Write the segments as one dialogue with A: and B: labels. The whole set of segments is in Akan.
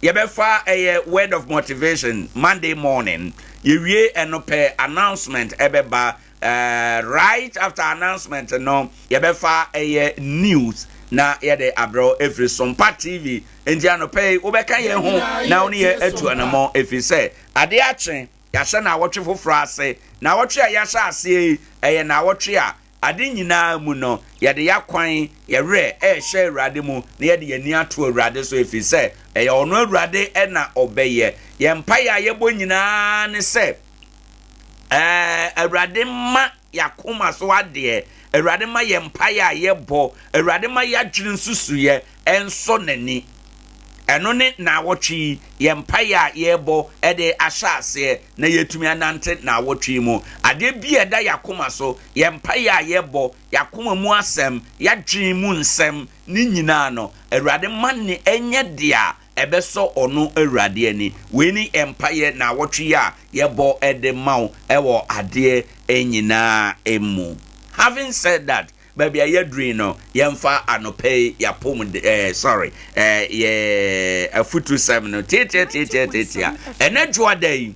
A: Yɛbɛfa ɛyɛ word of motivation Monday morning yɛwie ɛno pɛ announcement ɛbɛba eh, right after announcement no yɛbɛfa ɛyɛ news na yɛde abrɛ ɛfiri Sompa TV nti anɔpɛ yi wobɛka yɛn ho na wo ne yɛ atu anamɔ ɛfiri sɛ adeɛ akye yɛahyɛ na awɔtwe foforɔ ase na awɔtwe a yɛahyɛ aseɛ yi ɛyɛ na awɔtwe a Ade nyinaa mu no, yɛde yɛn akwan, yɛn werɛ, rehyɛ Awurade mu, na yɛde yɛn ani ato Awurade so, ɛfiri sɛ ɛyɛ ɔno Awurade na ɔbɛyɛ. Yɛn mpaeɛ a yɛbɔ nyinaa ne sɛ, Awurade mma yɛn akoma so adeɛ, Awurade mma yɛn mpaeɛ a yɛbɔ, Awurade mma yɛn adwene nsusuiɛ, nsɔ n'ani. Ɛno ne naawɔtwe yi, yɛn mpaeɛ a yɛrebɔ de ahyɛ aseɛ na yɛatumi anante naawɔtwe yi mu. Adeɛ bi a ɛda yɛn akoma so, yɛn mpaeɛ a yɛbɔ, yɛn akoma mu asɛm, yɛn adwene mu nsɛm, ne nyinaa no, Awurade mma no nyɛ deɛ a ɛbɛsɔ Ɔno Awurade ani. Wei ne yɛn mpaeɛ naawɔtwe yi a yɛbɔ de ma wo wɔ adeɛ nyinaa mu. Having said that, Baabi a yɛaduru yi no, yɛmfa anɔpa yi yɛapɔmuden, eh, sorry, eh, yɛ afutusɛm no tiatiatiatiatiatia. Ɛnɛ dwoada yi,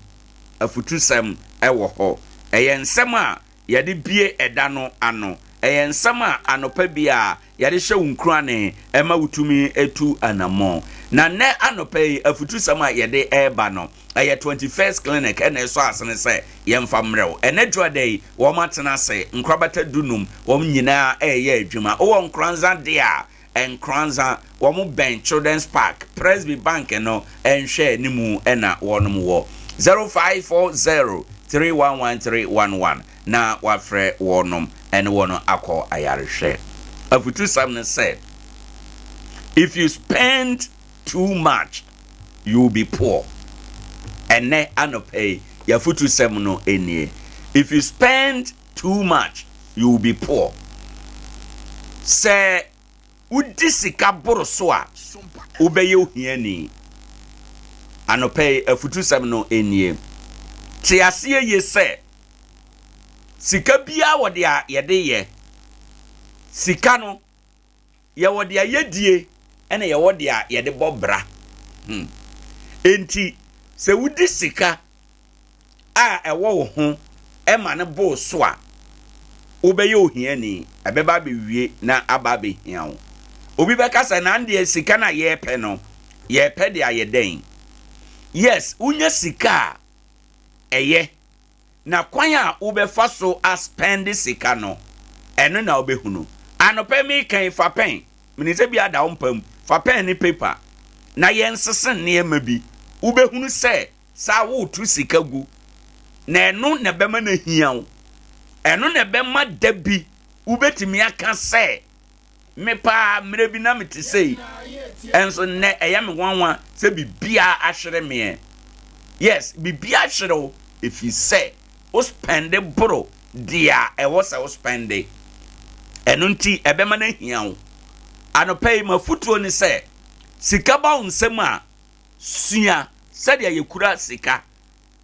A: afutusɛm ɛwɔ hɔ. Ɛyɛ nsɛm a yɛde bie ɛda no ano. Ɛyɛ nsɛm a anɔpa bi a yɛde hyɛ wo nkurane ɛma wotumi etu anamɔn. Na nnɛ anɔpa yi afutusɛm a yɛde ɛreba no, ɛyɛ Twenty First Clinic ɛna ɛsɔ asene sɛ yɛmfa mmerɛ wo. Ɛnɛ dwoada yi, wɔn atena ase, nkorabata du num, wɔn nyinaa ɛreyɛ adwuma. Wowɔ Nkoranza dea a, Nkoranza, wɔn bɛn Children's Park, Presby Bank no nhwɛ anim ɛna wɔnom wɔ. Zero five four zero three one one three one one na wafrɛ wɔnom ɛne wɔn akɔ ayarehwɛ. Afutusɛm ne sɛ, If you spend Too much, you will be poor. Ɛnnɛ anɔpa yi, yɛn afotusɛm no nie, If you spend too much, you will be poor. Sɛ wodi sika boro so a, wobɛyɛ ohiani. Anɔpa yi, afotusɛm no nie, Te aseɛ yie sɛ sika biara wɔ deɛ yɛde yɛ sika no. yɛwɔ deɛ yɛdie ɛna yɛwɔ deɛ yɛde bɔ bra hmm. Enti sɛ wodi sika a ɛwɔ wo ho ɛma no boo so a wobɛyɛ ohiani ɛbɛba abɛwie na aba abɛhia wo obi bɛka sɛ na deɛ sika no a yɛpɛ no yɛpɛ deɛ ayɛ dɛn yes wonya sika a ɛyɛ Na kwan a wobɛfa so a spend sika no ɛno na wobɛhunu. Anɔpa yi meka yi fa pɛn, menim sɛ bi ada wo mpa mu, fa pɛn ne paper na yɛnsese nneɛma bi. Wobɛhunu sɛ saa woretu sika gu na ɛno na ɛbɛma no ahia wo. Ɛno na ɛbɛma da bi wobɛtumi aka sɛ me paa mmerɛ bi na mete sei, nso nnɛ ɛyɛ me nwanwa sɛ biribiara ahwere meɛ. Yes, biribiara ahwere wo ɛfiri sɛ wo spɛnde boro deɛ a ɛwɔ sɛ wo spɛnde. Ɛno nti ɛbɛma no ahia wo. Anɔpa yi m'afotuo ne sɛ sika ba wo nsam a, sua sɛdeɛ yɛkura sika.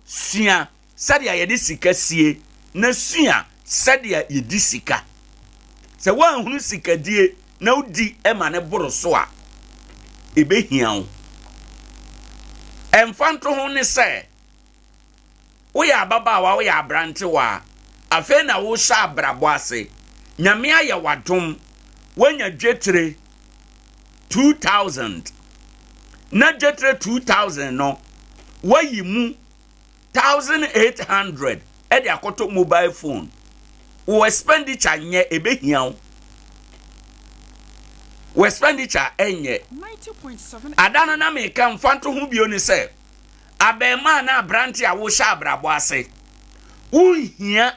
A: Sua sɛdeɛ yɛde sika sie na sua sɛdeɛ yɛdi sika. Sɛ woanhunu sikadie na wodi ma no boro so a, ɛbɛhia wo. Ɛmfa nto ho ne sɛ, woyɛ ababaawa, woyɛ aberantewa, afei na wohyɛ abrabɔ ase, Nyame ayɛ w'adom, woanya dwetire 2000, na dwetire 2000 no, woayi mu thousand eight hundred ɛde akɔtɔ mobile phone wɔ expenditure nyɛ ebe hia wo wɔ expenditure ɛnyɛ ada no na meka mfa nto ho bio ne sɛ abɛɛmaa na aberante a wohyɛ abrabɔ ase wonhia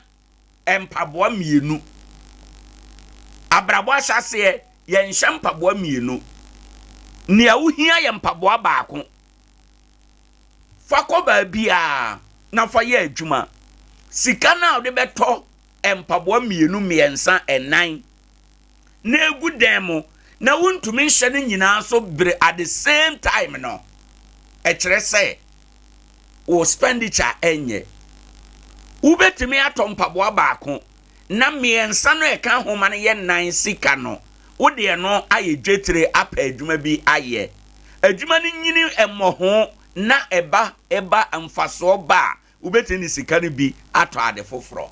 A: mpaboa mmienu abrabɔ ahyɛ aseɛ yɛnhyɛ mpaboa mmienu nea wohia yɛ mpaboa baako Fa kɔ baabiara na fa yɛ adwuma. Sika no a wode bɛtɔ mpaboa mmienu, mmiɛnsa, nnan na egu dan mu na wontumi nhyɛ no nyinaa so bere at the same time no, ɛkyerɛ sɛ wo spenditure ɛnyɛ. Wobɛtumi atɔ mpaboa baako. na mmiɛnsa no a ɛka nhoma no yɛ nnan sika no, wode ɛno ayɛ dwetire apɛ adwuma bi ayɛ. Adwuma no nyini mmɔho na ɛba ɛba mfasoɔ ba a, wobɛtumi de sika no bi atɔ ade foforɔ.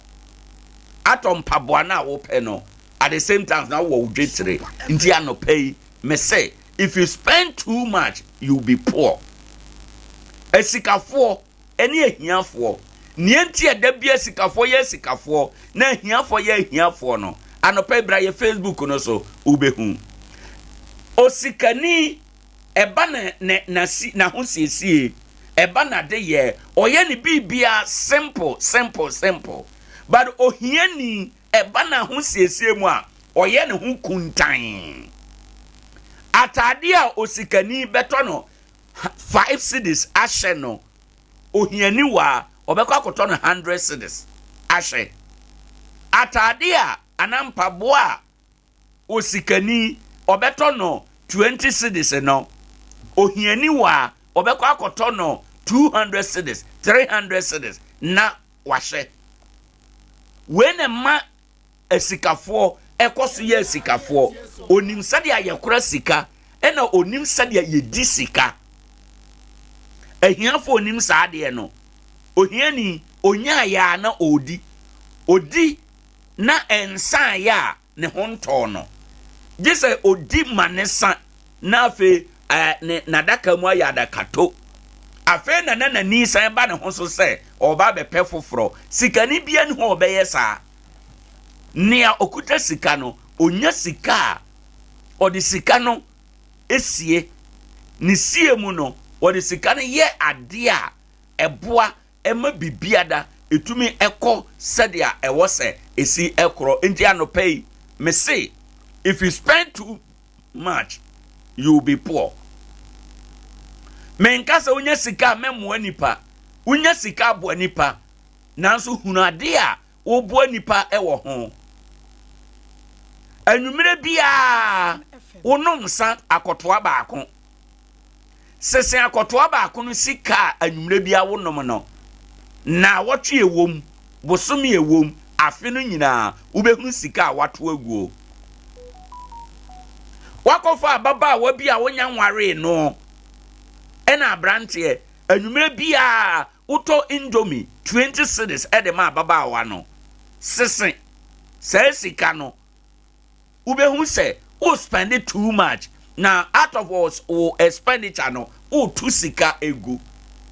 A: Atɔ mpaboa no a wopɛ no, at the same time na wowɔ wo dwetire. Nti anɔpa yi, mese, if you spend too much, you will be poor. Asikafoɔ, ne ahiafoɔ. Nea enti a da biara sikafoɔ yɛ asikafoɔ na ahiafoɔ yɛ ahiafoɔ no, anɔpa yi bra yɛ Facebook no so, wobɛhu. Osikani, ɛba na, na, na, n'ahosiesie, ɛba n'adeyɛ, ɔyɛ ne biribiara simple, simple, simple. But ohiani, ɛba n'ahosiesie mu a, ɔyɛ ne ho kuntan. Ataadeɛ a osikani bɛtɔ no, five cedis ahyɛ no ohiani wa a ɔbɛkɔ akɔtɔ no hundred cedis ahyɛ ataade a anaa mpaboa a osikani ɔbɛtɔ no twenty cedis no ohiani wa a ɔbɛkɔ akɔtɔ no two hundred cedis three hundred cedis na wahyɛ wei na ɛma Asikafoɔ ɛkɔ so yɛ asikafoɔ. Onim sɛdeɛ yɛkora sika, ɛna onim sɛdeɛ yɛdi sika. Ahiafoɔ onim saa adeɛ no. Ohiani ɔnyaeɛ a na ɔredi. Ɔdi na ɛnsaeɛ a ne ho ntɔɔ no. Gye sɛ ɔdi ma ne sa na afei ɛɛ ne n'adaka mu ayɛ adakato. Afei na na n'ani san ba ne ho so sɛ ɔreba abɛpɛ foforɔ. Sikani biara nni hɔ a ɔbɛyɛ saa. Nea ɔkuta sika no, ɔnya sika a, ɔde sika no sie. Ne sie mu no, ɔde sika no yɛ adeɛ a ɛboa ɛma biribiara tumi kɔ sɛdeɛ ɛwɔ sɛ ɛsi korɔ. Enti anɔpa yi, mese, if you spend too much, you will be poor. Menka sɛ wonya sika a mɛmmoa nipa, wonya sika aboa nipa, nanso hunu adeɛ a woboa nipa wɔ ho. Anwummerɛ biara wonom nsa akɔtoa baako. Sese akɔtoa baako no sika a anwummere biara wonom no, nnawɔtwe a ɛwom, bosome a ɛwom, afe no nyinaa, wobɛhunu sika a wɔato agu hɔ. Woakɔfa ababaawa bi a wonya nwaree no ɛna aberanteɛ, anwummere biara wotɔ indomie 20 cedis de ma ababaawa no. Sese saa sika no, wobɛhu sɛ wo spend too much na out of wo expenditure no wotu sika egu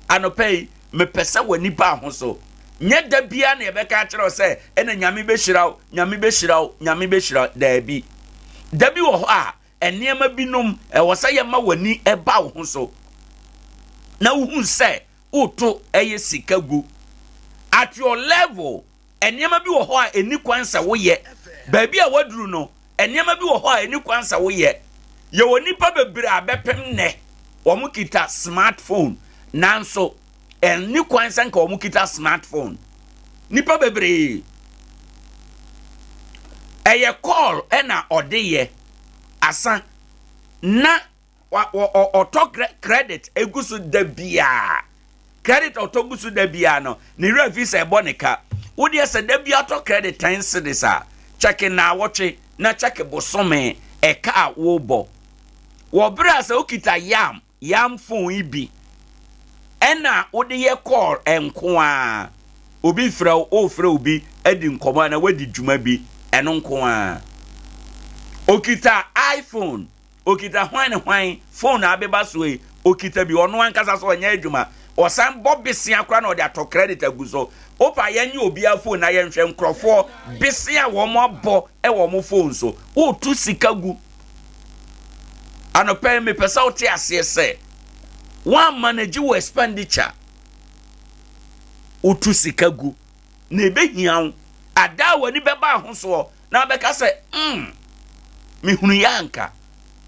A: anɔpa yi mepɛ sɛ w'ani baa ho so nyɛ da biara na yɛbɛka akyerɛ wo sɛ ɛna nyame bɛhyira wo nyame bɛhyira wo nyame bɛhyira wo daabi da bi wɔ hɔ a nneɛma binom ɛwɔ sɛ yɛma w'ani ɛba wo ho so na wohu sɛ woto ɛyɛ sika gu at your level Nneɛma bi wɔ hɔ a ɛni kwan sɛ woyɛ. Baabi a woaduru no, nneɛma bi wɔ hɔ a ɛni kwan sɛ woyɛ. Yɛwɔ nnipa bebree a bɛpem nnɛ wɔkita smart phone, nanso ɛnni kwan sɛ nka wɔkita smart phone. Nnipa bebree, ɛyɛ call na ɔde yɛ, asa na Wa, wɔ, ɔ, ɔtɔ credit egu so da biara. Credit a ɔtɔ gu so da biara no, ne werɛ fi sɛ ɛbɔ ne ka. Wo deɛ sɛ da biara tɔ credit ten cedis a, check naawɔtwe na check bosome ɛka a wobɔ. Wɔ berɛ a sɛ wokita yam, yam phone yi bi, ɛna wode yɛ call nko a, obi frɛ wo, wofrɛ obi adi nkɔmmɔ anaa wadi dwuma bi, ɛno nko a. Okita iPhone. Okita hwan ne hwan phone na abeba so yi? Okita bi ɔno ankasa so ɔnyɛ adwuma. Ɔsan bɔ besia koraa na ɔde atɔ credit agu so. Wopa yɛnyɛ obiara phone na yɛnhwɛ nkurɔfoɔ bese a wɔn abɔ wɔ wɔn phone so. Wotu sika gu. Anɔpa yi mepɛ sɛ wote aseɛ sɛ woammanage wo expenditure. Wotu sika gu. na ebehia wo. Ada a w'ani bɛba ho soɔ na wabɛka sɛ, mm, mehunuiɛ a anka.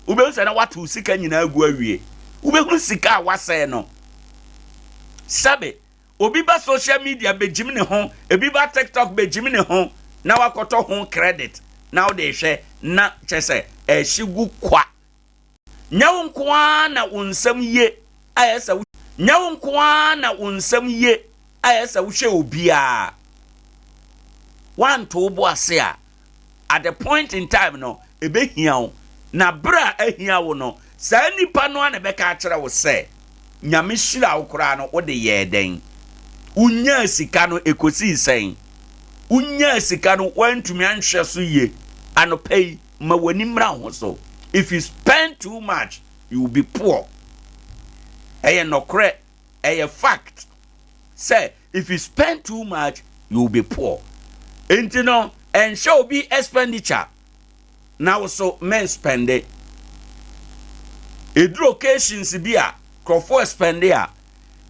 A: Wobɛhu sɛ na woato wo sika nyinaa agu awie. Wobɛhunu sika a woasɛe no. Sɛbe, obi ba social media bɛgyim ne ho, ebi ba TikTok bɛgyim ne ho, na wakɔtɔ ho credit na wode rehwɛ na kyɛ sɛ ɛhye gu kwa. Nyɛ wo nko ara na wo nsɛm ye a ɛsɛ sɛ wohwɛ. Nyɛ wo nko ara na wo nsɛm ye a ɛsɛ sɛ wohwɛ obiara. Woanto wo bo ase a, at the point in time no, ebehia wo, na bere a ahia wo no, saa nipa no ara na ɛbɛka akyerɛ wo sɛ, Nyame hyira wo koraa no, wo de yɛɛ dɛn? Wunyaa sika no, ekosii sɛn? Wunyaa sika no, woantumi anhwɛ so ye anɔpa yi. Ma w'ani mmra ho so. If you spend too much, you will be poor. Ɛyɛ nɔkorɛ, ɛyɛ fact sɛ if you spend too much, you will be poor. Nti no, ɛnhyɛ obi expenditure na wo so men spende. Eduru occasions bi a nkurɔfoɔ spende a,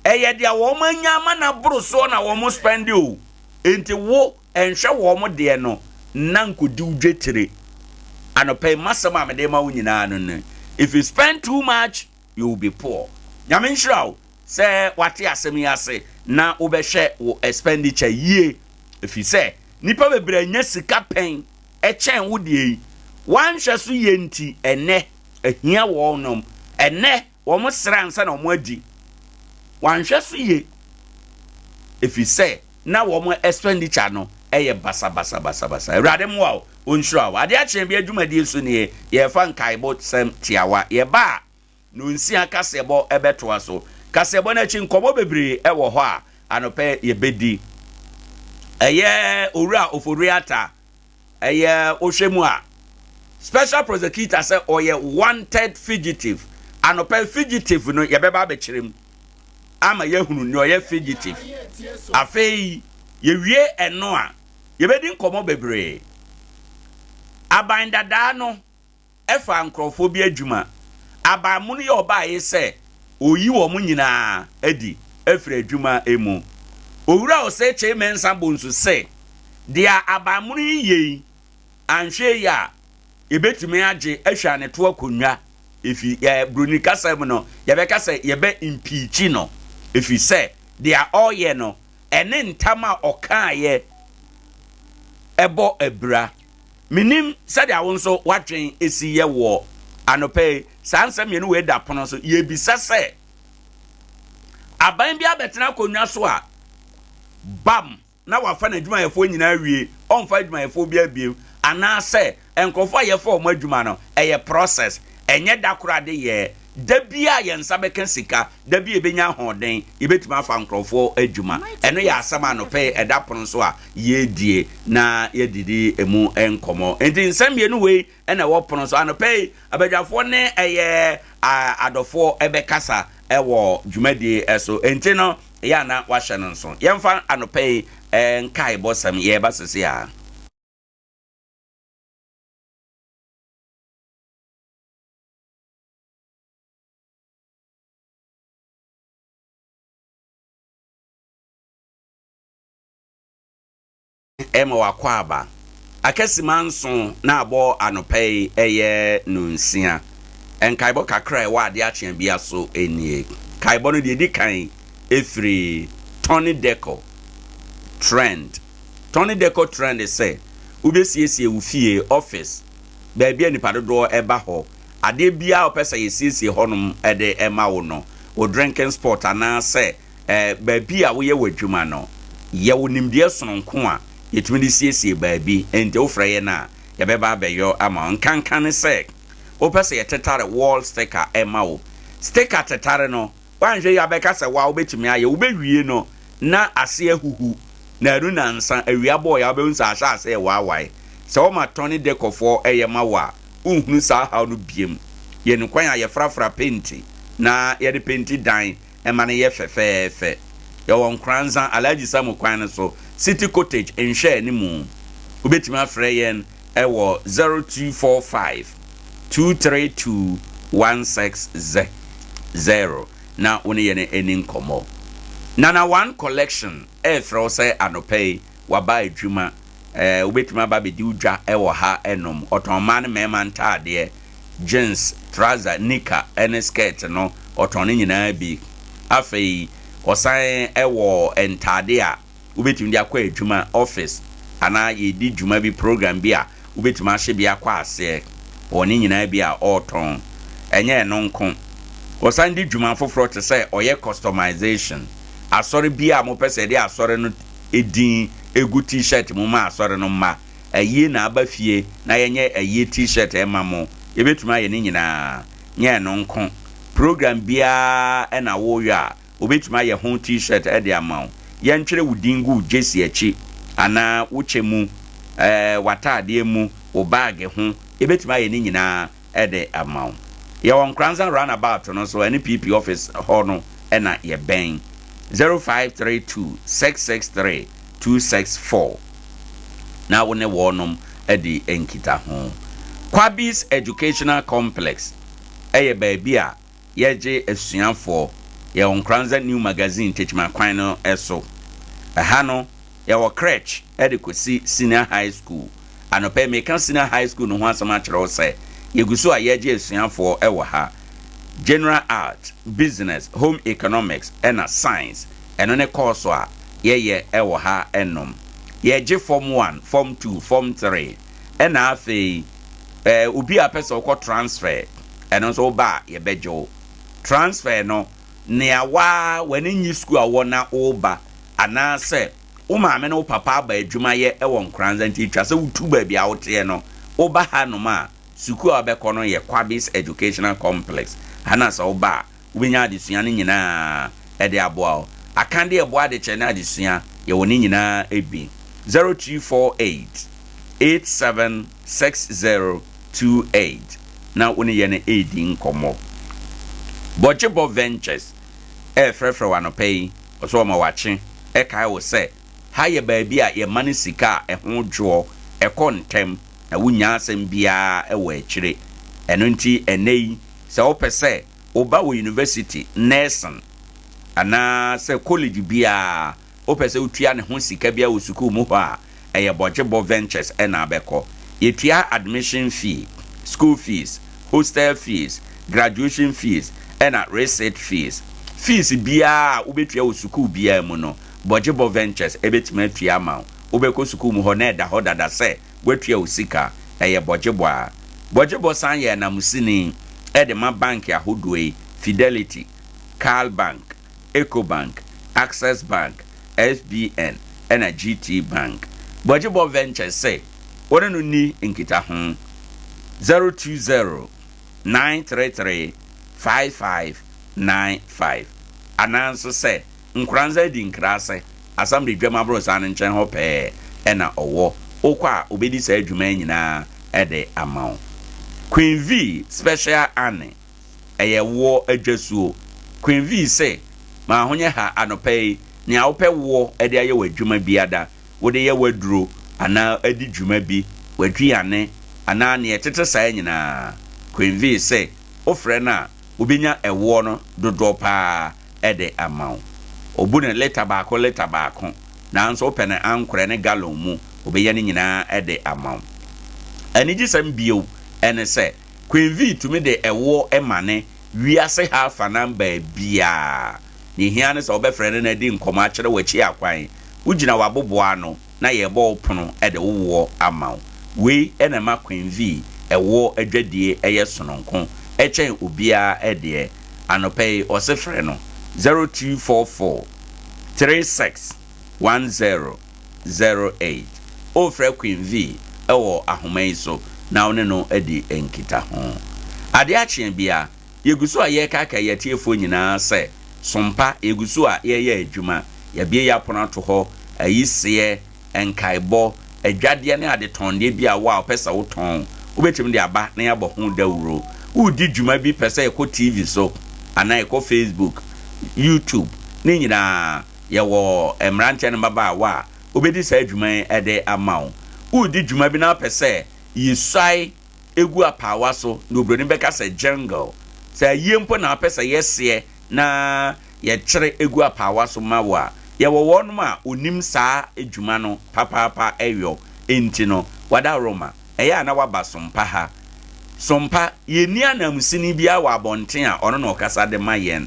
A: ɛyɛ deɛ wɔn anya ama na boro soɔ na wɔn spende o. Nti wo Ɛnhwɛ wɔn deɛ no na nkɔdi wo dwetire anɔpa yi masɛm a mede ma wo nyinaa no ne if you spend too much you will be poor Nyame nhyira wo sɛ wate asɛm yi ase na wobɛhwɛ wo expenditure yie ɛfiri sɛ nnipa bebree anya sika pɛn ɛkyɛn wo deɛ yi wɔanhwɛ so yie nti ɛnnɛ ahia wɔnom ɛnnɛ Wɔsrɛ ansa na wɔadi. Wɔanhwɛ so yie ɛfiri sɛ na wɔn expenditure no yɛ basabasabasabasa. Awurade mmoa wo, Ɔnhyira wo. Adeɛ akyee bi adwumadie so nie, yɛrefa nkaebo sɛm tiawa. Yɛba a, Nonsia kaseɛbɔ bɛtoa so. Kaseɛbɔ no akyi, nkɔmmɔ bebree wɔ hɔ a anɔpɛ yɛbɛdi. Ɛyɛ Owura Ofori-Atta Ɛyɛ wohwɛ mu a special prosecutor sɛ ɔyɛ wanted fugitive anɔpɛ fugitive no yɛbɛba abɛkyerɛ mu ama yɛahunu nea ɔyɛ fugitive afei yɛwie ɛno a yɛbɛdi nkɔmmɔ bebree aban dadaa no Ɛfa nkurɔfoɔ bi adwuma. Aban mono yɛ ɔbaeɛ sɛ Ɔyi wɔn nyinaa adi afiri adwuma mu. Owura Osei Kyei Mensah Bonsu se, Deɛ aban mono yi yɛ yi, anhwɛ yie a, yɛbɛtumi agye ahwane to akonnwa ɛfiri yɛ Broni kasa mu no, yɛbɛka sɛ yɛbɛ impeachi no ɛfiri sɛ deɛ ɔreyɛ no ɛne ntam a ɔkaaeɛ bɔ abira. Mennim sɛdeɛ wo nso w'adwen si yɛ wɔ anɔpa yi, saa nsɛm mmienu wei da pono so, yɛbisa sɛ, Aban bi abɛtena akonnwa so a, bam, na wafa n'adwumayɛfoɔ nyinaa awie, ɔmfa adwumayɛfoɔ biara bio, anaasɛ nkurɔfoɔ a yɛfa wɔn adwuma no, ɛyɛ process, ɛnyɛ da koro adeyɛɛ, Da bi a yɛn nsa bɛka sika, da bi a yɛbɛnya ahoɔden, yɛbɛtumi afa nkurɔfoɔ adwuma. Ɛno yɛ asɛm a anɔpa yi ɛda pono so a yɛredie na yɛdidi ɛmu nkɔmmɔ. Enti nsɛm mmienu wei na ɛwɔ pono so anɔpa yi. Abadwafoɔ ne ɛyɛ adɔfoɔ ɛbɛkasa ɛwɔ dwumadie so. Enti no yɛ ana wahyɛ no nso. Yɛmfa anɔpa yi nkaebɔ sɛm yɛreba sese a. ma w'akwaaba akasima nson na abɔ anɔpa yi ɛyɛ nonsia. Nkaebɔ kakra a ɛwɔ adeɛ akyea bia so nie. Kaebɔ no deɛ ɛdi kan ɛfiri Tony Deco Trend. Tony Deco Trend sɛ wobɛsiesie wo fie, office, baabi a nipa dodoɔ ɛba hɔ. Adeɛ biara a wopɛ sɛ yɛsiesie hɔnom de ma wo no, wo drinking spot anaasɛ eh, baabi a woyɛ w'adwuma no, yɛwɔ nimdeɛ sononko a yɛtumi de siesie baabi. Enti wofrɛ yɛn a, yɛbɛba abɛyɔ ama wo. Nkanka ne sɛ, wopɛ sɛ yɛtetare wall sticker ma wo. Sticker tetare no, Woanhwɛ yie a bɛka sɛ woa wobɛtumi ayɛ. Wobɛwie no na ase ahuhu na ɛno na nsa awia bɔɔeɛ a wobɛhu sɛ ahyɛ aseɛ rewaawae. Sɛ wɔma tɔne dekɔfoɔ yɛ ma wo a, wonhunu saa haw no biom. Yɛn kwan a yɛfrafra penti na yɛde penti dan ma no yɛ fɛfɛɛfɛ. Yɛwɔ Nkoranza, Alhaji Samu kwan no so, City Cottage nhwɛanimu. Wobɛtumi afrɛ yɛn wɔ zero two four five two three two one six ze zero na wo ne yɛn ani nkɔmmɔ. Nana One Collection refrɛ wo sɛ anɔpa yi waba adwuma, ɛɛ wobɛtumi aba abɛdi wo dwa wɔ ha nom. Ɔtɔn mmaa ne mmarima ntaadeɛ, jeans, trouser, nika ne skirt no, ɔtɔn ne nyinaa bi. Afei ɔsan wɔ ntaadeɛ a Wobɛtumi de akɔ adwuma, office, anaa yɛredi dwuma bi, program bi a wobɛtumi ahye bi akɔ aseɛ wɔ ne nyinaa bi a ɔretɔn. Ɛnyɛ ɛno nko, wɔsan de dwuma foforɔ te sɛ ɔyɛ customization, asɔre bi a mopɛ sɛ yɛde asɔre no din gu T-shirt mu ma asɔre no mma, ayie na aba fie na yɛnyɛ ayie T-shirt mma mo, yɛbɛtumi ayɛ ne nyinaa. Nyɛ ɛno nko, program biara na woreyɔ a, Wobetumi ayɛ ho T-shirt de ama wo. Yɛntwerɛ wo din gu wo gyesi akyi anaa wo kyɛ mu, w'ataadeɛ mu, wo baage ho, yɛbɛtumi ayɛ ne nyinaa de ama wo. Yɛwɔ Nkoranza Run About no so, ɛne PP office hɔ no na yɛbɛn, 0532 663 264 na wo ne wɔnom adi nkitaho. Kwabis Educational Complex yɛ baabi a Yɛregye asuafoɔ yɛwɔ Nkoranza New Magazine Tekyima kwan no so. Ɛha no yɛwɔ crèche de kɔsi Senior High School. Anɔpa yi meka Senior High School no ho asɛm akyerɛ wo sɛ yɛgu so a yɛregye asuafoɔ wɔ ha. General Art, Business, Home Economics na Science, ɛno ne kɔɔso a yɛyɛ wɔ ha nom. Yɛregye Form One, Form Two, Form Three. Ɛna afei eh, obi a pɛ sɛ ɔkɔ transfer, ɛno nso woba a yɛbɛgye wo. Transfer no, nea wa w'ani nnye sukuu a wowɔ na woba, anaasɛ wo maame ne wo papa aba adwuma yɛ wɔ Nkoranza nti etwa sɛ wotu baabi a woteɛ no, woba hanom a, sukuu a wobɛkɔ no yɛ Kwabis Educational Complex. Ha na sɛ woba a, wobɛnya adesua no nyinaa de aboa wo. Akadeɛ ɛboa adekyerɛ ne adesua, yɛwɔ ne nyinaa bi. 0348 876028 na wo ne yɛn ɛredi nkɔmmɔ. Bɔgyebɔ Ventures ɛrefrɛfrɛ wo anɔpa yi, ɔsɛ ɔma wakye ɛkae wo sɛ ha yɛ baabi a yɛma no sika a ɛho dwoɔ, ɛkɔ ntɛm na wonnya asɛm biara wɔ akyire. Ɛno nti ɛnnɛ yi sɛ wopɛ sɛ. wo ba wɔ yunivɛsiti, nɛɛsen, anaa sɛ kɔlege biara a, wopɛ sɛ wotua ne ho sika biara wɔ sukuu mu hɔ a, ɛyɛ Bɔgyebɔ Ventures na abɛkɔ. Yɛtua admission fee, school fees, hostel fees, graduation fees, ɛna receipt fees. Fees biara a wobɛtua wɔ sukuu biara mu no, Bɔgyebɔ Ventures bɛtumi atua ama wo. Wobɛkɔ sukuu mu hɔ na ɛda hɔ dada sɛ, Woatua wo sika, ɛyɛ bɔgyebɔ a. Bɔgyebɔ san yɛ ananmusini de ma bank ahodoɔ yi, Fidelity, Carl Bank, Ecobank, Access Bank, FBN ɛna GT Bank. Bɔgyebɔ Ventures se wo ne no nni nkitaho, zero two zero nine three three five five nine five anaa nso sɛ Nkoranza adi nkrase asam de dwam aborosan no nkyɛn hɔ pɛɛ na ɔwɔ, wokɔ a obedi saa dwuma yi nyinaa de ama wo. Queen V special Anne ɛyɛ woɔ adwasuo. Queen V se m'ahonyɛ ha anɔpa yi nea wopɛ woɔ de ayɛ w'adwuma biada, wode yɛ w'aduro anaa di dwuma bi, w'aduane anaa nea ɛtete saa nyinaa, Queen V se wofrɛ no a wobenya ɛwoɔ no dodoɔ paa. de ama wo. Obu no lita baako lita baako, nanso wopɛ no ankorɛ ne galɔn mu, obɛyɛ ne nyinaa de ama wo. Anigyesɛm bio ne sɛ, Queen Vee tumi de ɛwoɔ ma ne wiase ha afanan baabiara. Deɛ ɛhia ne sɛ wobɛfrɛ no na adi nkɔmmɔ akyerɛ wo akyia kwan. Wogyina w'aboboano na yɛrebɔ wo pono de wo woɔ ama wo. Wei na ɛma Queen Vee ɛwoɔ adwadie yɛ sononko kyɛn obiara deɛ. Anɔpa yi ɔse frɛ no zero two four four three six one zero zero eight. Wofrɛ Queen Vee wɔ ahoma yi so na wo ne no adi nkitaho. Adeɛ akye biara. Yɛgu so a yɛrekaakae yɛn atiefoɔ nyinaa sɛ, Som pa, yɛgu so a yɛreyɛ adwuma. Yɛabue yɛn apono ato hɔ, ayiseɛ, nkaebɔ, adwadeɛ ne adetɔndeɛ biara wɔ a wopɛ sɛ wotɔn. Wobɛtumi de aba na yɛabɔ ho dawuro. Woredi dwuma bi pɛ sɛ yɛkɔ TV so anaa yɛkɔ Facebook, YouTube, ne nyinaa, yɛwɔ mmeranteɛ ne mmabaawa a wɔbɛdi saa dwuma yi de ama wo. Woredi dwuma bi na wopɛ sɛ yɛsuae. egu apaawa so na obroni bɛka sɛ jungle. Sɛ ayie mpo na wopɛ sɛ yɛseɛ na yɛkyere gu apaawa so ma wo a, yɛwɔ wɔnom a wɔnim saa adwuma no papaapa ɛyɔ. Enti no, Wadaroma, ɛyɛ a na woaba Sompa ha? Sompa, yɛnni ananmusini biara wɔ abɔnten a ɔno na ɔkasa de ma yɛn.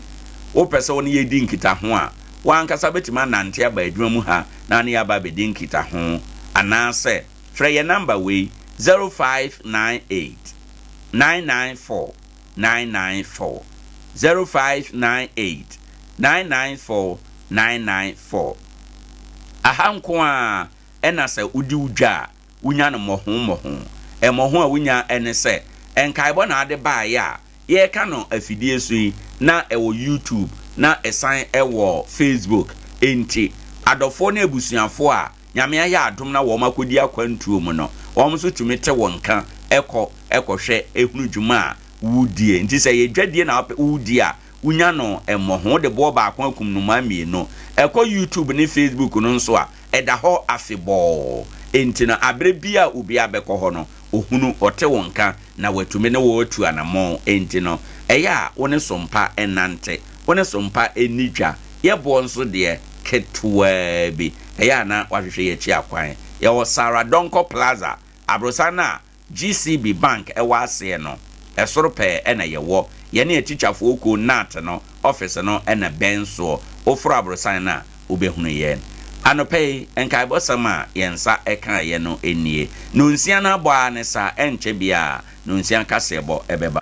A: Wopɛ sɛ wo ne yɛn di nkitaho a, wo ankasa bɛtumi anante aba adwuma mu ha na ne yɛaba abɛdi nkitaho. Anaasɛ. Frɛ yɛn nɔmba wei, zero five nine eight, nine nine four, nine nine four, zero five nine eight, nine nine four, nine nine four. Aha nko ara na sɛ wodi wo dwa a, wunya no mmɔho mmɔho. Mmɔho a wunya ne sɛ, nkaebɔ na wode baeɛ a, yɛka no afidie so yi, na ɛwɔ YouTube, na ɛsan wɔ Facebook. Enti, adɔfoɔ ne abusuafoɔ a Nyame ayɛ adom na wɔn akɔdi akwantuo mu no, wɔn nso tumi te wo nka kɔ kɔhwɛ hunu dwuma a wodie. Nti sɛ ɛyɛ dwadie na wopɛ wodi a, wonya no mmɔho. Wode boɔ baako akum nnomaa mmienu. Kɔ YouTube ne Facebook no nso a, ɛda hɔ afebɔɔ. Enti no, aberɛ biara a obiara bɛkɔ hɔ no, ɔhunu, ɔte wo nka. na watumi ne wo atu anammɔn. Enti no, ɛyɛ a wo ne som pa nnante, wo ne som pa nni dwa. Yɛ boɔ nso deɛ, ketewaa bi, ɛyɛ a na wahwehwɛ y'akyi akwan. Yɛwɔ Sarah Donkor Plaza, aborosan no a GCB Bank wɔ aseɛ no, ɛsoro pɛɛ na yɛwɔ. Yɛne atikyafoɔ kuo, NAT, no ɔfese no na bɛn soɔ. Woforo aborosan no a, wobɛhunu yɛn. Anɔpa yi, nkaebɔsɛm a yɛn nsa kaeɛ no nie, Nonsia no abɔ ara ne saa, ɛrenkyɛ biara Nonsia kaseɛbɔ bɛba.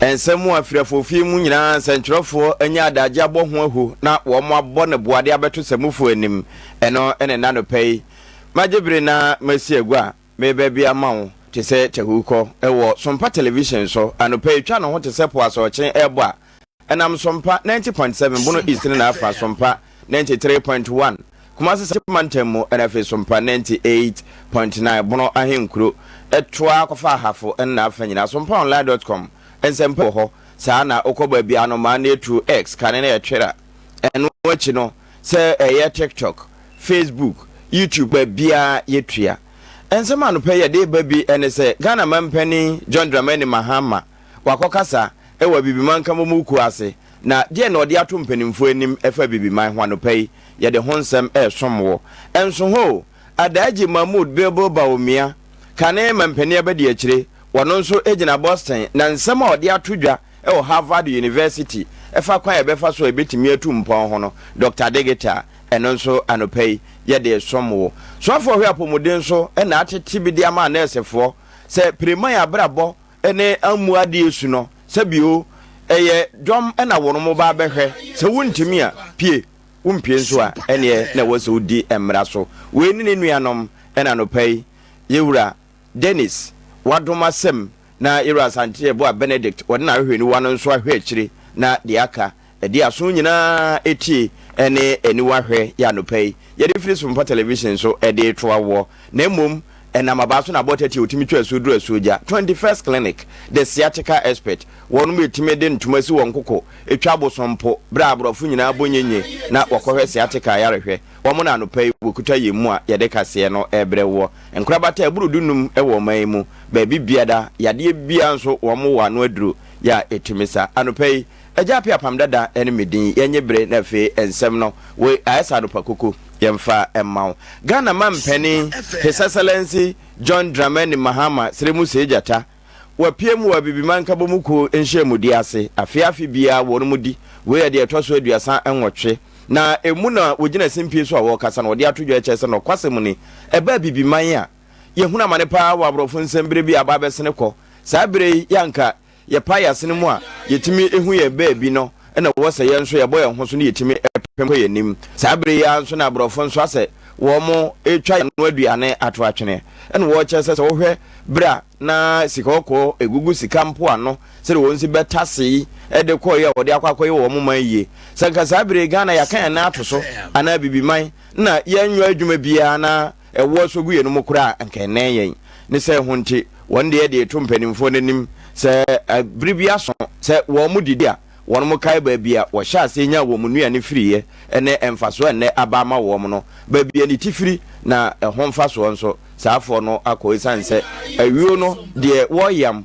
B: Nsɛm a firi afofie mu nyinaa nsɛntwerɛfoɔ anya adagye abɔ ho ahu na wɔabɔ no boade abɛto samufoɔ anim. Ɛno ne nnanɔpɛ yi. Magye bere na masi agua. Meba bi ama wo te sɛ tahukɔ wɔ Sompa Television so anɔpa yi, twa ne ho te sɛ po asorɔkye rebɔ a ɛnam Sompa ninety point seven Bono East ne n'afa, Sompa ninety three point one Kumasi Central Mantam mu na afei Sompa ninety eight point nine Bono Ahenkuro toa kɔfa Ahafo ne n'afa nyinaa. Sompaonline dot com nsɛmpa wɔ hɔ saa na wokɔ baabi a anomaa no atu, X, kane no yɛ twera. Ɛno akyi no. Sɛ ɛyɛ TikTok, Facebook, YouTube baabiara yɛtua. Nsɛm anɔpa yi yɛde reba bi ne sɛ Ghana Manpanin John Dramani Mahama wakɔkasa wɔ Abibiman Nkramomu kuo ase na deɛ na ɔde ato mpaninfoɔ anim ɛfa Abibiman ho anɔpa yi yɛde ho nsɛm resom wo. Nso ho o, Adaagye Mahmood Bilbil Bawumia, kane Manpanin Abadiakyire, ɔno nso gyina Boston na nsɛm a ɔde ato dwa Wɔ Harvard University, ɛfa kwan a yɛbɛfa so a yebetumi atu mpɔn ho no, Dɔkta Digital, ɛno nso anɔpa yi yɛde resom wo. Soafo ɔhwɛ apɔmuden so na atete bi de ama anɛɛsefoɔ sɛ Pireman abrabɔ ne ammu adeɛ su no, sɛ bio ɛyɛ dɔm na wɔnom ba abɛhwɛ, sɛ wontumi a, pue, wompue nso a, ɛneɛ na ɛwɔ sɛ wodi mmara so. Wei ne ne nuanom na anɔpa yi yɛwura. Dennis, wadom asɛm, na Yerah Asante a ɛboa Benedict, wɔde n'ahwehwɛniwa no nso ahwɛ akyire, na deɛ aka, ɛde aso nyinaa tie ne aniwa hwɛ, yɛ anɔpa yi, yɛde afiri sompa television so de retoa woɔ, na mmom ɛnam abaa so na abɔta ti a wɔtumi twa asuo duru asuo gya, 21st Clinic, the sciatica expert, wɔnom ɛtumi de ntoma si wɔn koko, ɛtwa abosom mpo, berɛ a aborɔfo nyinaa bɔ nyɛnyɛ na wɔkɔhwɛ sciatica ayarehwɛ. wɔn na anɔpa yi wɔkuta yɛn mu a yɛde kaseɛ no rebrɛ woɔ. Nkorabata ɛboro du-num wɔ ɔman yi mu, baabi biara, yadeɛ biara nso wɔn wɔ ano aduro yɛ a ɛtumi sa. Anɔpa yi, Agya Appiah Pam Dada ne me din, yɛnnye bere na afei nsɛm no, woi ayɛ sɛ anɔpa koko, yɛmfa mma wo. Ghana Mampanin His Excellency John Dramani Mahama Seremu Seigyata, Wɔapiam wɔ Abibiman Nkabɔmu Kuo Nhyiamudie ase afe afe biara wɔn mu di wei yɛ deɛ ɛtɔ so aduasa nwɔtwe na ɛmu na wɔgyina simpie so a wɔrekasa na wɔde ato dwa ɛkyerɛ sɛ nɔkwasɛm ni ɛba Abibiman a yɛhunu amane paa wɔ aborɔfo nsɛm berɛ bi a aba abɛsene kɔ saa berɛ yi yɛ anka yɛpae yɛasene mu a yɛtumi hu yɛn baabi no na ɛwɔ sɛ yɛn nso yɛbɔ yɛn ho so na yɛtumi pem kɔ yɛn anim. Saa berɛ yi ara nso na aborɔfo nso asɛ wɔretwa yɛn ano aduane ato atwene, na wɔrekyɛ sɛ sɛ wohwɛ berɛ a na sika kɔkɔɔ ɛgugu sika mpoano sɛdeɛ wɔn si bɛtase yi de kɔeɛ a wɔde akɔ akɔyɛ wɔn man yie. Sɛ nka saa berɛ yi Ghana yɛaka yɛn nan ato so anaa Abibiman na yɛnyɔ adwuma biara na Ɛwoɔ sɔ gu yɛnom koraa a, anka ɛnnɛn yɛn. Ne saa ho nti, wɔn deɛ de to mpanimfoɔ no anim. Sɛ bere bi aso sɛ wɔdidi a, wɔnom kae baabi a wɔhyɛɛ aseɛ nyaa wɔn nnuane firiiɛ ne mfasoɔ a ɛnnɛ aba ama wɔn no. Baabi a niti firi na ɛho mfasoɔ nso, saa afoɔ no akɔ esiane sɛ ayuo no deɛ wɔyam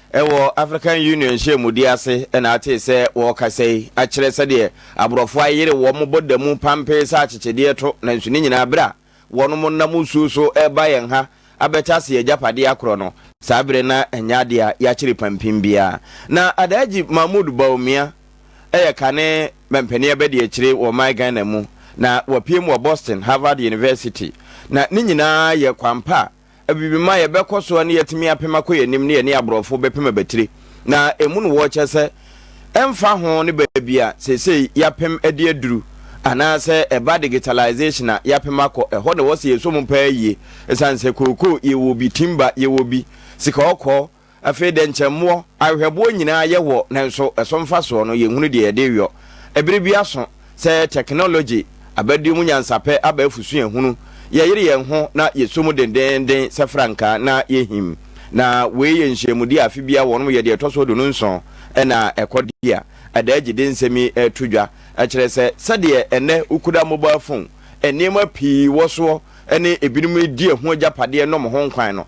B: Ɛwɔ African Union nhyiamudi ase na atee sɛ wɔrekasa yi akyerɛ sɛdeɛ aborɔfo ayere wɔn bɔ da mu pampee sɛ akyekyedeɛ to nanso ne nyinaa berɛ a wɔnom nam osuo so reba yɛn ha abɛtase yɛn agyapadeɛ akorɔ no. Saa berɛ no ɛnyɛ adeɛ a yɛakyere pampim biara. Na Adaaji Mahmood Bawumia yɛ kane mampanin abadiakyire wɔ ɔman Ghana mu na wapue mu wɔ Boston Harvard University na ne nyinaa yɛ kwan pa a Abibimma, yɛbɛkɔ so ne yɛatumi apem akɔ yɛn anim ne yɛne aborɔfo bɛpem abatire. Na ɛmu no wɔ kyɛ sɛ ɛmfa ho ne baabi a seesei yɛapem de aduru anaasɛ ɛba digitalization a yɛapem akɔ, ɛhɔ na ɛwɔ sɛ yɛsɔ mu paa yie. Ɛsiane sɛ kookoo yɛwɔ bi, timber yɛwɔ bi, sika ɔkɔɔ, Afei dɛ nkyɛ mmoɔ, ahwehwɛboɔ, nyinaa yɛ wɔ nanso ɛso mfasoɔ no yɛnhunu deɛ yɛde reyɔ. Ɛbere bi aso sɛ tɛknologye aba due mu nyansapɛ aba afu suahunu, yɛyere yɛn ho na yɛsɔ mu dendeenden sɛ frankaa na yɛhim. Na wei yɛ nhyiamudie a afe biara wɔnom yɛ deɛ ɛtɔ so aduonu nson na ɛkɔ di a ɛda agye de nsɛm yi to dwa kyerɛ sɛ sɛdeɛ ɛnnɛ wokuda mobile phone nneɛma pii wɔ soɔ ne ebinom di ɛho agyapadeɛ nom ho nkwan no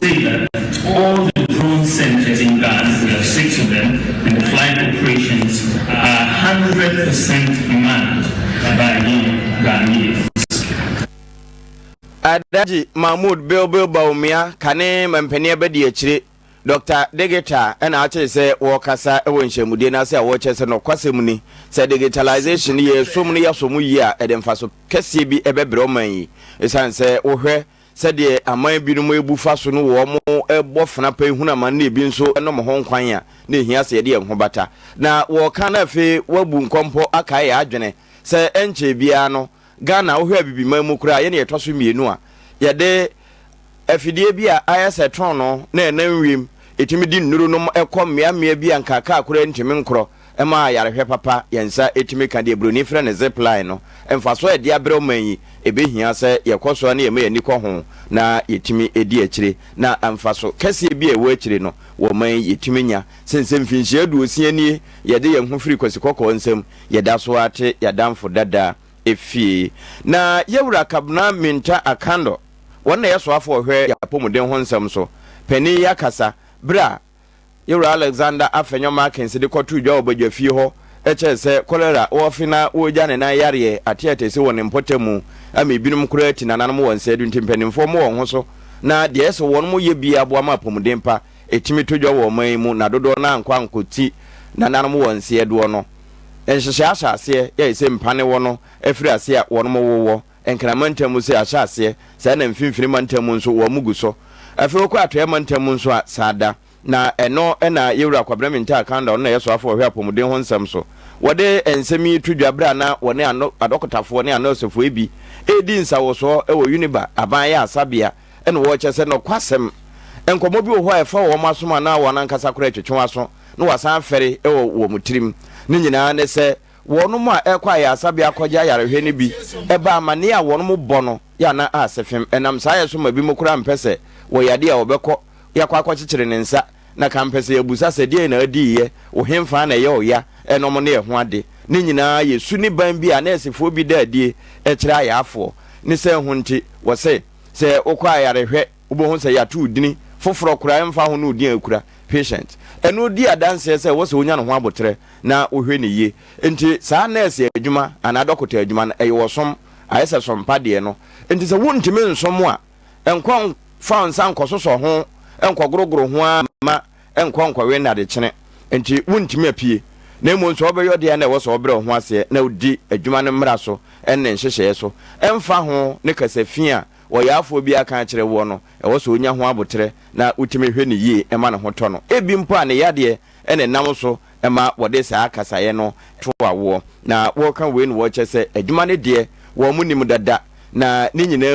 C: Say that all the drone sent at England we have six of them and the flying operations are
B: hundred percent manned by we Ghanaians. Alhaji Mahmood Bilbil Bawumia ka ne mampanin abadiakyire Dɔkta Digita na akyere sɛ wɔrekasa wɔ nhyɛmudie no ase a wɔkyerɛ sɛ nɔkwasɛm ni sɛ digitalization no yɛsom no yɛasom yie a ɛde mfaso kɛseɛ bi ɛbɛbrɛ ɔman yi ɛsiane sɛ wohwɛ Sɛdeɛ aman binom rebu fa so no wɔn bɔ fena pɛ hunu amane na ebi nso nom ho nkwan a, na ɛhia sɛ yɛde yɛn ho bata. Na wɔreka na afei wɔabu nkɔmpɔ akae yɛn adwene sɛ ɛnkyɛe biara no Ghana, wohwɛ Abibiman mu koraa a, yɛne yɛtɔ so mmienu a yɛde afidie bi a ayɛ sɛ trɔnoo na ɛnam wiem, ɛtumi di nnuro nom kɔ mmeammea bi a nka kaa koraa ntumi nkorɔ. Ɛma ayarehwɛ papa yɛn nsa tumi ka deɛ buroni frɛ no zip line no. Mfasoɔ a ɛde abrɛ ɔman yi, ɛbɛhia sɛ yɛkɔ so ara na yɛma yɛn ani kɔ ho na yɛtumi di akyire. Na mfaso kɛseɛ bi a ɛwɔ akyire no wɔ ɔman yi yɛtumi nya. Sen sɛ mfinhyia aduosia nie yɛde yɛn ho firi Kwasi Kɔkɔɔ nsam, yɛda so ara te yɛadamfo dada fie. Na Yawura Kabena Mintah Akandor, wɔn na yɛsoafo ɔhwɛ yɛapɔmuden ho nsɛm so panin yi akasa berɛ a Yɛn Wura Alexander Afenyo Markins de kɔtoo dwa wɔ badwafie hɔ kyerɛɛ sɛ kɔlera wɔ ɔfe na wɔregya ne nan yareɛ ateɛtɛsi wɔ ne mpɔtam mu ama ebinom koraa ti nananom wɔ nsɛeɛ do nti mpaninfoɔ mo wɔn ho so na deɛ ɛyɛ sɛ wɔnom yɛ bie aboa ma apɔmuden pa ɛtumi to dwa wɔ ɔman yi mu na dodoɔ no ara nkɔ ankɔ ti nananom wɔ nsɛeɛ doɔ no nhyehyɛɛ ahyɛ aseɛ yɛ ɛsɛ mpa ne wɔ no ɛfiri aseɛ a wɔnom wowɔ Nkran mantam mu sɛ ahyɛ aseɛ, saa na mfimfini mantam mu nso wɔn gu so. Afei wokɔ atɔeɛ mantam mu nso a, saa da. Na ɛno na Yewura Kwabena Mintaa Kanda, ɔno na ɛyɛ soafoɔ a ɔhwɛ apɔmuden ho nsɛm so, wɔde nsɛm yi to dwa berɛ a na wɔne ano adɔkotafoɔ ne anɔɔsefoɔ bi redi nsawɔsoɔ wɔ Uniba aban ayaresabea na wɔrekyɛ sɛ nɔkwasɛm nkɔmmɔ bi wɔ hɔ a ɛfa wɔn asom anaa wɔn ankasa koraa atwetwe wɔn aso na wɔasan afɛre wɔ wɔn tirim. Ne nyinaa ne sɛ, Wɔnom a ɛkɔ ayaresabea kɔgye ayarehwɛ no bi ba amanneɛ a wɔnom bɔ no yɛ anan a sefem. Ɛnam saa yɛ so ma binom koraa mpɛ sɛ wɔ yadeɛ a wɔbɛkɔ yakɔ akɔkyekyere ne nsa na kan mpɛ sɛ yɛbusa sɛ deɛn na adiiɛ, wo henfaa na ɛyɛ ɔya ɛnom ne ɛho ade. Ne nyinaa yɛ su ne ban bi a nɛɛsefoɔ bi da adie kyerɛ ayarefoɔ ne sɛ ho nti wɔ se sɛ wokɔ ayarehwɛ Wobɛhu sɛ yɛato wo din foforɔ koraa ɛmfa ho ne wo din a wokura, patient. Ɛno di adanseɛ sɛ ɛwɔ sɛ wonya ne ho aboterɛ na wohwɛ no yie. Enti saa nɛɛse adwuma anaa dɔkota adwuma no, ɛyɛ ɔsom, ayɛ sɛ som pa deɛ no. Enti sɛ wontumi nsom a, nkɔ mfa wo nsa nkɔsosɔ ho, nkɔgorogoro ho ara mma ɛnkɔ nkɔwe nnadekyene. Enti wontumi apue. Na mmom sɛ wobɛyɛ ɔdeɛ a na ɛwɔ sɛ wobrɛ wo ho aseɛ na wodi adwuma no mmara so ne ne nhyehyɛeɛ so ɛmfa ho ne kasafi a ɔyarefoɔ bi aka akyerɛ woɔ no, ɛwɔ sɛ ɔnya ho aboterɛ na wotumi hwɛ no yie ma ne ho tɔ no. Ebi mpo a ne yadeɛ na ɛnam so ma wɔde saa kasaeɛ no to awoɔ. Na wɔka wei na wɔkyɛ sɛ adwuma no deɛ wɔn nnim dada, na ne nyinaa